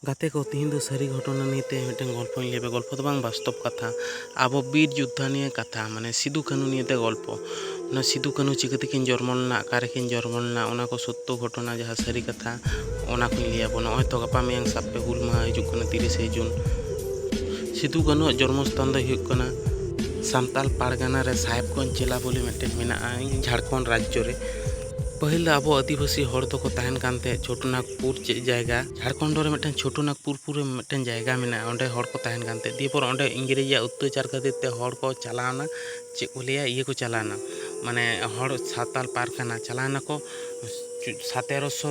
ᱜᱟᱛᱮ ᱠᱚ ᱛᱮᱦᱮᱧ ᱫᱚ ᱥᱟᱹᱨᱤ ᱜᱷᱚᱴᱚᱱᱟ ᱱᱤᱭᱮ ᱛᱮ ᱢᱤᱫᱴᱮᱱ ᱜᱚᱞᱯᱚᱧ ᱞᱟᱹᱭ ᱟᱯᱮ ᱠᱟᱱᱟ ᱜᱚᱞᱯᱚ ᱫᱚ ᱵᱟᱝ ᱵᱟᱥᱛᱚᱵ ᱠᱟᱛᱷᱟ ᱟᱵᱚ ᱵᱤᱨ ᱡᱳᱫᱽᱫᱷᱟ ᱱᱤᱭᱮ ᱠᱟᱛᱷᱟ ᱢᱟᱱᱮ ᱥᱤᱫᱩ ᱠᱟᱹᱱᱩ ᱱᱤᱭᱮ ᱛᱮ ᱜᱚᱞᱯᱚ ᱚᱱᱟ ᱥᱤᱫᱩ ᱠᱟᱹᱱᱩ ᱪᱤᱠᱟᱹ ᱛᱮᱠᱤᱱ ᱡᱚᱱᱢᱚ ᱞᱮᱱᱟ ᱚᱠᱟ ᱨᱮᱠᱤᱱ ᱡᱚᱱᱢᱚ ᱞᱮᱱᱟ ᱚᱱᱟ ᱠᱚ ᱥᱚᱛᱛᱚ ᱜᱷᱚᱴᱚᱱᱟ ᱡᱟᱦᱟᱸ ᱥᱟᱹᱨᱤ ᱠᱟᱛᱷᱟ ᱚᱱᱟ ᱠᱚᱧ ᱞᱟᱹᱭ ᱟᱵᱚᱱᱟ ᱱᱚᱜᱼᱚᱭ ᱛᱚ ᱜᱟᱯᱟ ᱢᱮᱭᱟᱝ ᱥᱟᱵ ᱯᱮ ᱦᱩᱞ ᱢᱟᱦᱟ ᱦᱤᱡᱩᱜ ᱠᱟᱱᱟ ᱛᱤᱨᱤᱥᱮ ᱡᱩᱱ ᱥᱤᱫᱩ ᱠᱟᱹᱱᱩ ᱟᱜ ᱡᱚᱱᱢᱚ ᱥᱛᱷᱟᱱ ᱫᱚ ᱦᱩᱭᱩᱜ ᱠᱟᱱᱟ ᱥᱟᱱᱛᱟᱲ ᱯᱟᱨᱜᱟᱱᱟ ᱨᱮ ᱥᱟᱦᱮᱵᱽᱜᱚᱸᱡᱽ ᱡᱮᱞᱟ ᱵᱚᱞᱮ ᱢᱤᱫᱴᱮᱱ ᱢᱮᱱᱟᱜᱼᱟ ᱡᱷᱟᱲᱠᱷᱚᱸᱰ ᱨᱟᱡᱽᱡᱚ ᱨᱮ ᱯᱟᱹᱦᱤᱞ ᱫᱚ ᱟᱵᱚ ᱟᱹᱫᱤᱵᱟᱹᱥᱤ ᱦᱚᱲ ᱫᱚᱠᱚ ᱛᱟᱦᱮᱱ ᱠᱟᱱ ᱛᱟᱦᱮᱸᱫ ᱪᱷᱳᱴᱳ ᱱᱟᱜᱽᱯᱩᱨ ᱪᱮᱫ ᱡᱟᱭᱜᱟ ᱡᱷᱟᱲᱠᱷᱚᱸᱰ ᱨᱮ ᱢᱤᱫᱴᱟᱝ ᱪᱷᱳᱴᱳ ᱱᱟᱜᱽᱯᱩᱨ ᱯᱩᱨᱮ ᱢᱤᱫᱴᱟᱝ ᱡᱟᱭᱜᱟ ᱢᱮᱱᱟᱜᱼᱟ ᱚᱸᱰᱮ ᱦᱚᱲ ᱠᱚ ᱛᱟᱦᱮᱱ ᱠᱟᱱ ᱛᱟᱦᱮᱸᱫ ᱫᱤᱭᱮᱯᱚᱨ ᱚᱸᱰᱮ ᱤᱝᱨᱮᱡᱽᱼᱟᱜ ᱚᱛᱛᱟᱪᱟᱨ ᱠᱷᱟᱹᱛᱤᱨ ᱛᱮ ᱦᱚᱲ ᱠᱚ ᱪᱟᱞᱟᱣᱮᱱᱟ ᱪᱮᱫ ᱠᱚ ᱞᱟᱹᱭᱟ ᱤᱭᱟᱹ ᱠᱚ ᱪᱟᱞᱟᱣᱮᱱᱟ ᱢᱟᱱᱮ ᱦᱚᱲ ᱥᱟᱶᱛᱟᱞ ᱯᱟᱨᱜᱟᱱᱟ ᱪᱟᱞᱟᱣᱮᱱᱟᱠᱚ ᱥᱟᱛᱮᱨᱚᱥᱚ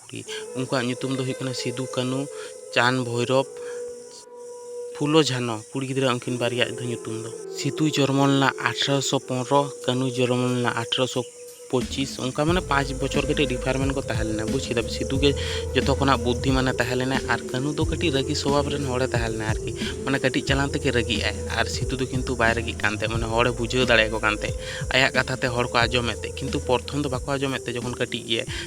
ᱠᱩᱲᱤ ᱩᱱᱠᱩᱣᱟᱜ ᱧᱩᱛᱩᱢ ᱫᱚ ᱦᱩᱭᱩᱜ ᱠᱟᱱᱟ ᱥᱤᱫᱩ ᱠᱟᱹᱱᱩ ᱪᱟᱸᱫᱽ ᱵᱷᱳᱭᱨᱳᱵᱽ ᱯᱷᱩᱞᱳ ᱡᱷᱟᱱᱚ ᱠᱩᱲᱤ ᱜᱤᱫᱽᱨᱟᱹ ᱩᱱᱠᱤᱱ ᱵᱟᱨᱭᱟ ᱟᱜ ᱫᱚ ᱧᱩᱛᱩᱢ ᱫᱚ ᱥᱤᱫᱩ ᱡᱚᱱᱢᱚ ᱞᱮᱱᱟ ᱟᱴᱷᱨᱚᱥᱚ ᱯᱚᱱᱨᱚ ᱠᱟᱹᱱᱩ ᱡᱚᱱᱢᱚ ᱞᱮᱱᱟ ᱟᱴᱷᱨᱚᱥᱚ ᱯᱚᱸᱪᱤᱥ ᱚᱱᱠᱟ ᱢᱟᱱᱮ ᱯᱟᱸᱪ ᱵᱚᱪᱷᱚᱨ ᱠᱟᱹᱴᱤᱡ ᱰᱤᱯᱷᱟᱨᱢᱮᱱᱴ ᱠᱚ ᱛᱟᱦᱮᱸ ᱞᱮᱱᱟ ᱵᱩᱡᱽ ᱠᱮᱫᱟᱯᱮ ᱥᱤᱫᱩ ᱜᱮ ᱡᱚᱛᱚ ᱠᱷᱚᱱᱟᱜ ᱵᱩᱫᱽᱫᱷᱤᱢᱟᱱᱮ ᱛᱟᱦᱮᱸ ᱞᱮᱱᱟ ᱟᱨ ᱠᱟᱹᱱᱩ ᱫᱚ ᱠᱟᱹᱴᱤᱡ ᱨᱟᱹᱜᱤ ᱥᱚᱵᱷᱟᱵᱽ ᱨᱮᱱ ᱦᱚᱲᱮ ᱛᱟᱦᱮᱸ ᱞᱮᱱᱟ ᱟᱨᱠᱤ ᱢᱟᱱᱮ ᱠᱟᱹᱴᱤᱡ ᱪᱟᱞᱟᱝ ᱛᱮᱜᱮ ᱨᱟᱹᱜᱤᱜ ᱟᱭ ᱟᱨ ᱥᱤᱫᱩ ᱫᱚ ᱠᱤᱱᱛᱩ ᱵᱟᱭ ᱨᱟᱹᱜᱤᱜ ᱠᱟᱱ ᱛᱟᱦᱮᱸᱫ ᱢᱟᱱᱮ ᱦᱚᱲᱮ ᱵᱩᱡᱷᱟᱹᱣ ᱫᱟᱲᱮᱭᱟᱠᱚ ᱠᱟᱱ ᱛᱟᱦᱮᱸᱫ ᱟᱭᱟᱜ ᱠᱟᱛᱷᱟ ᱛᱮ ᱦᱚᱲ ᱠᱚ ᱟᱸᱡᱚᱢᱮᱫ ᱛᱟᱦᱮᱸᱫ ᱠᱤᱱᱛᱩ ᱯᱨᱚᱛᱷᱚᱢ ᱫᱚ ᱵᱟᱠᱚ ᱟᱸᱡᱚᱢᱮᱫ ᱛᱟᱦᱮᱸᱫ ᱡᱚᱠᱷᱚᱱ ᱠᱟᱹᱴᱤᱡ ᱜᱮᱭᱟᱭ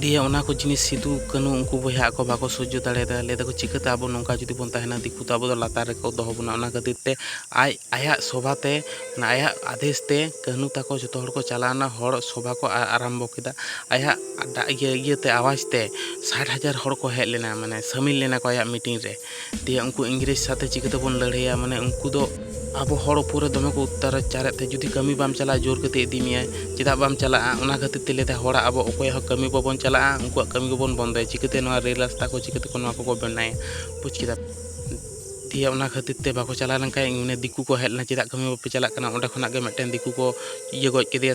ᱫᱤᱭᱮ ᱚᱱᱟ ᱠᱚ ᱡᱤᱱᱤᱥ ᱥᱤᱫᱩ ᱠᱟᱹᱱᱩ ᱩᱱᱠᱩ ᱵᱚᱭᱦᱟ ᱟᱠᱚ ᱵᱟᱠᱚ ᱥᱚᱡᱡᱚ ᱫᱟᱲᱮᱭᱟᱫᱟ ᱞᱟᱹᱭ ᱫᱟᱠᱚ ᱪᱤᱠᱟᱹᱛᱮ ᱟᱵᱚ ᱱᱚᱝᱠᱟ ᱡᱩᱫᱤ ᱵᱚᱱ ᱛᱟᱦᱮᱱᱟ ᱫᱤᱠᱩ ᱫᱚ ᱟᱵᱚ ᱫᱚ ᱞᱟᱛᱟᱨ ᱨᱮᱠᱚ ᱫᱚᱦᱚ ᱵᱚᱱᱟ ᱚᱱᱟ ᱠᱷᱟᱹᱛᱤᱨ ᱛᱮ ᱟᱡ ᱟᱭᱟᱜ ᱥᱚᱵᱷᱟ ᱛᱮ ᱢᱟᱱᱮ ᱟᱭᱟᱜ ᱟᱫᱮᱥ ᱛᱮ ᱠᱟᱹᱱᱩ ᱛᱟᱠᱚ ᱡᱚᱛᱚ ᱦᱚᱲ ᱠᱚ ᱪᱟᱞᱟᱣᱱᱟ ᱦᱚᱲ ᱥᱚᱵᱷᱟ ᱠᱚ ᱟᱨᱟᱢᱵᱚ ᱠᱮᱫᱟ ᱟᱭᱟᱜ ᱤᱭᱟᱹ ᱤᱭᱟᱹᱛᱮ ᱟᱣᱟᱡᱽ ᱛᱮ ᱥᱟᱴ ᱦᱟᱡᱟᱨ ᱦᱚᱲ ᱠᱚ ᱦᱮᱡ ᱞᱮᱱᱟ ᱢᱟᱱᱮ ᱥᱟᱹᱢᱤᱞ ᱞᱮᱱᱟ ᱠᱚ ᱟᱭᱟᱜ ᱢᱤᱴᱤᱝ ᱨᱮ ᱫᱤᱭᱮ ᱩᱱᱠᱩ ᱤᱝᱨᱮᱡᱽ ᱥᱟᱛᱮ ᱪᱤᱠᱟᱹ ᱛᱮᱵᱚᱱ ᱞᱟᱹᱲᱦᱟᱹᱭᱟ ᱢᱟᱱᱮ ᱩᱱᱠᱩ ᱫᱚ ᱟᱵᱚ ᱦᱚᱲ ᱩᱯᱚᱨ ᱨᱮ ᱫᱚᱢᱮ ᱠᱚ ᱚᱛᱛᱟᱪᱟᱨᱮᱫ ᱛᱟᱦᱮᱸᱫ ᱡᱩᱫᱤ ᱠᱟᱹᱢᱤ ᱵᱟᱢ ᱪᱟᱞᱟᱜᱼᱟ ᱡᱳᱨ ᱠᱟᱛᱮᱫ ᱤᱫᱤ ᱢᱮᱭᱟᱭ ᱪᱮᱫᱟᱜ ᱵᱟᱢ ᱪᱟᱞᱟᱜᱼᱟ ᱚᱱᱟ ᱠᱷᱟᱹᱛᱤᱨ ᱛᱮ ᱞᱟᱹᱭᱫᱟᱭ ᱦᱚᱲᱟᱜ ᱟᱵᱚ ᱚᱠᱚᱭᱟᱜ ᱦᱚᱸ ᱠᱟᱹᱢᱤ ᱵᱟᱵᱚᱱ ᱪᱟᱞᱟᱜᱼᱟ ᱩᱱᱠᱩᱣᱟᱜ ᱠᱟᱹᱢᱤ ᱜᱮᱵᱚᱱ ᱵᱚᱱᱫᱚᱭᱟ ᱪᱤᱠᱟᱹᱛᱮ ᱱᱚᱣᱟ ᱨᱮᱹᱞ ᱨᱟᱥᱛᱟ ᱠᱚ ᱪᱤᱠᱟᱹ ᱛᱮᱠᱚ ᱱᱚᱣᱟ ᱠᱚᱠᱚ ᱵᱮᱱᱟᱭᱟ ᱵᱩᱡᱽ ᱠᱮᱫᱟᱢ ᱫᱤᱭᱮ ᱚᱱᱟ ᱠᱷᱟᱹᱛᱤᱨ ᱛᱮ ᱵᱟᱠᱚ ᱪᱟᱞᱟᱣ ᱞᱮᱱᱠᱷᱟᱱ ᱢᱟᱱᱮ ᱫᱤᱠᱩ ᱠᱚ ᱦᱮᱡ ᱞᱮᱱᱟ ᱪᱮᱫᱟᱜ ᱠᱟᱹᱢᱤ ᱵᱟᱯᱮ ᱪᱟᱞᱟᱜ ᱠᱟᱱᱟ ᱚᱸᱰᱮ ᱠᱷᱚᱱᱟᱜ ᱜᱮ ᱢᱤᱫᱴᱮᱱ ᱫᱤᱠᱩ ᱠᱚ ᱤᱭᱟᱹ ᱜᱚᱡ ᱠᱮᱫᱮᱭᱟ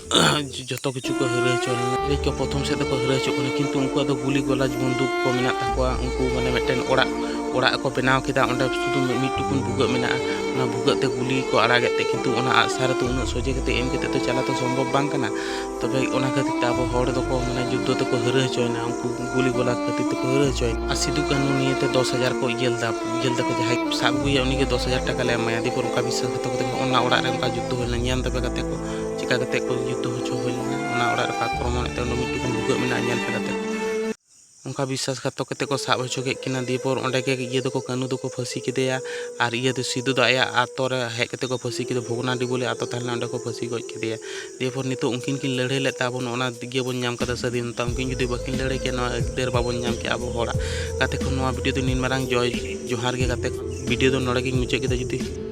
ᱡᱚᱛᱚ ᱠᱤᱪᱷᱩ ᱠᱚ ᱦᱤᱨᱟᱹ ᱦᱚᱪᱚ ᱞᱮᱱᱟ ᱤᱝᱨᱮᱡᱽ ᱠᱚ ᱯᱨᱚᱛᱷᱚᱢ ᱥᱮᱫ ᱫᱚᱠᱚ ᱦᱤᱨᱟᱹ ᱦᱚᱪᱚᱜ ᱠᱟᱱᱟ ᱠᱤᱱᱛᱩ ᱩᱱᱠᱩᱣᱟᱜ ᱫᱚ ᱜᱩᱞᱤ ᱜᱚᱞᱟᱡᱽ ᱵᱚᱱᱫᱩᱠ ᱠᱚ ᱢᱮᱱᱟᱜ ᱛᱟᱠᱚᱣᱟ ᱩᱱᱠᱩ ᱢᱟᱱᱮ ᱢᱤᱫᱴᱮᱱ ᱚᱲᱟᱜ ᱚᱲᱟᱜ ᱠᱚ ᱵᱮᱱᱟᱣ ᱠᱮᱫᱟ ᱚᱸᱰᱮ ᱥᱩᱫᱷᱩ ᱢᱤᱫ ᱴᱩᱠᱩᱱ ᱵᱷᱩᱜᱟᱹᱜ ᱢᱮᱱᱟᱜᱼᱟ ᱚᱱᱟ ᱵᱷᱩᱜᱟᱹᱜ ᱛᱮ ᱜᱩᱞᱤ ᱠᱚ ᱟᱲᱟᱜᱮᱫ ᱛᱮ ᱠᱤᱱᱛᱩ ᱚᱱᱟ ᱟᱜᱼᱥᱟᱨ ᱫᱚ ᱩᱱᱟᱹᱜ ᱥᱚᱡᱷᱮ ᱠᱟᱛᱮ ᱮᱢ ᱠᱟᱛᱮ ᱫᱚ ᱪᱟᱞᱟᱣ ᱫᱚ ᱥᱚᱢᱵᱷᱚᱵ ᱵᱟᱝ ᱠᱟᱱᱟ ᱛᱚᱵᱮ ᱚᱱᱟ ᱠᱷᱟᱹᱛᱤᱨ ᱛᱮ ᱟᱵᱚ ᱦᱚᱲ ᱫᱚᱠᱚ ᱢᱟᱱᱮ ᱡᱩᱫᱽᱫᱷᱚ ᱛᱮᱠᱚ ᱦᱤᱨᱟᱹ ᱦᱚᱪᱚᱭᱮᱱᱟ ᱩᱱᱠᱩ ᱜᱩᱞᱤ ᱜᱚᱞᱟᱡᱽ ᱠᱷᱟᱹᱛᱤᱨ ᱛᱮᱠᱚ ᱦᱤᱨᱟᱹ ᱦᱚᱪᱚᱭᱮᱱᱟ ᱟᱨ ᱥᱤᱫᱩ ᱠᱟᱹᱱᱩ ᱱᱤᱭᱟᱹᱛᱮ ᱫᱚᱥ ᱦᱟᱡᱟᱨ ᱠᱚ ᱤᱭᱟᱹ ᱞᱮᱫᱟ ᱤᱭᱟᱹ ᱞᱮᱫᱟ ᱠᱚ ᱡᱟᱦᱟᱸᱭ ᱥᱟᱵ ᱟᱹᱜᱩᱭᱮᱭᱟ ᱩᱱᱤᱜᱮ ᱫᱚᱥ ᱦᱟᱡᱟᱨ ᱴᱟᱠᱟ ᱞᱮ ᱮᱢᱟᱭᱟ ᱫᱤᱭᱮᱯᱚᱨ ᱚᱱᱠᱟ ᱵᱤᱥᱥᱟᱥ ᱠᱟᱛᱮ ᱚᱱᱟ ᱚᱲᱟᱜ ᱨᱮ ᱚᱱᱠᱟ ᱡᱩᱫᱽᱫᱷᱚ ᱦᱩᱭ ᱞᱮᱱᱟ ᱧᱮᱞ ᱛᱟᱯᱮ ᱠᱟᱛᱮ ᱠᱚ ᱪᱮᱠᱟ ᱠᱟᱛᱮ ᱠᱚ ᱡᱩᱛᱟᱹ ᱦᱚᱪᱚ ᱦᱩᱭ ᱞᱮᱱᱟ ᱚᱱᱟ ᱚᱲᱟᱜ ᱨᱮᱠᱚ ᱟᱠᱨᱚᱢᱚᱱᱮᱫ ᱛᱮ ᱚᱸᱰᱮ ᱢᱤᱫᱴᱩᱠᱩᱱ ᱵᱷᱩᱜᱟᱹᱜ ᱢᱮᱱᱟᱜᱼᱟ ᱧᱮᱞ ᱯᱮ ᱠᱟᱛᱮ ᱚᱱᱠᱟ ᱵᱤᱥᱥᱟᱥ ᱜᱷᱟᱛᱚᱠ ᱠᱟᱛᱮ ᱠᱚ ᱥᱟᱵ ᱦᱚᱪᱚ ᱠᱮᱫ ᱠᱤᱱᱟ ᱫᱤᱭᱮ ᱯᱚᱨ ᱚᱸᱰᱮ ᱜᱮ ᱤᱭᱟᱹ ᱫᱚᱠᱚ ᱠᱟᱹᱱᱩ ᱫᱚᱠᱚ ᱯᱷᱟᱹᱥᱤ ᱠᱮᱫᱮᱭᱟ ᱟᱨ ᱤᱭᱟᱹ ᱫᱚ ᱥᱤᱫᱩ ᱫᱚ ᱟᱭᱟᱜ ᱟᱛᱳ ᱨᱮ ᱦᱮᱡ ᱠᱟᱛᱮ ᱠᱚ ᱯᱷᱟᱹᱥᱤ ᱠᱮᱫᱮᱭᱟ ᱵᱷᱚᱜᱽᱱᱟᱰᱤ ᱵᱚᱞᱮ ᱟᱛᱳ ᱛᱟᱦᱮᱸ ᱞᱮᱱᱟ ᱚᱸᱰᱮ ᱠᱚ ᱯᱷᱟᱹᱥᱤ ᱜᱚᱡ ᱠᱮᱫᱮᱭᱟ ᱫᱤᱭᱮ ᱯᱚᱨ ᱱᱤᱛᱚᱜ ᱩᱱᱠᱤᱱ ᱠᱤᱱ ᱞᱟᱹᱲᱦᱟᱹᱭ ᱞᱮᱫ ᱛᱮ ᱟᱵᱚ ᱱᱚᱜᱼᱚ ᱱᱚᱣᱟ ᱤᱭᱟᱹ ᱵᱚᱱ ᱧᱟᱢ ᱠᱟᱫᱟ ᱥᱟᱹᱫᱷᱤᱱᱚᱛᱟ ᱩᱱᱠᱤᱱ ᱡᱩᱫᱤ ᱵᱟᱹᱠᱤᱱ ᱞᱟᱹᱲᱦᱟᱹᱭ ᱠᱮᱭᱟ ᱱᱚᱣᱟ ᱟᱹᱭᱫᱟᱹᱨ ᱵᱟᱵᱚᱱ ᱧᱟᱢ ᱠᱮᱭᱟ ᱟᱵᱚ ᱦᱚᱲᱟᱜ ᱜᱟᱛᱮ ᱠᱚ ᱱᱚᱣᱟ ᱵᱷᱤᱰᱤᱭᱳ ᱫᱚ ᱱᱤᱱ ᱢᱟᱨᱟᱝ ᱡᱚᱭ ᱡᱚᱦᱟᱨ ᱜᱮ ᱜᱟᱛᱮ ᱠᱚ ᱵᱷᱤᱰᱤᱭᱳ ᱫᱚ ᱱᱚᱰᱮ ᱜᱤᱧ ᱢᱩᱪᱟᱹᱫ ᱠᱮᱫᱟ ᱡᱩᱫᱤ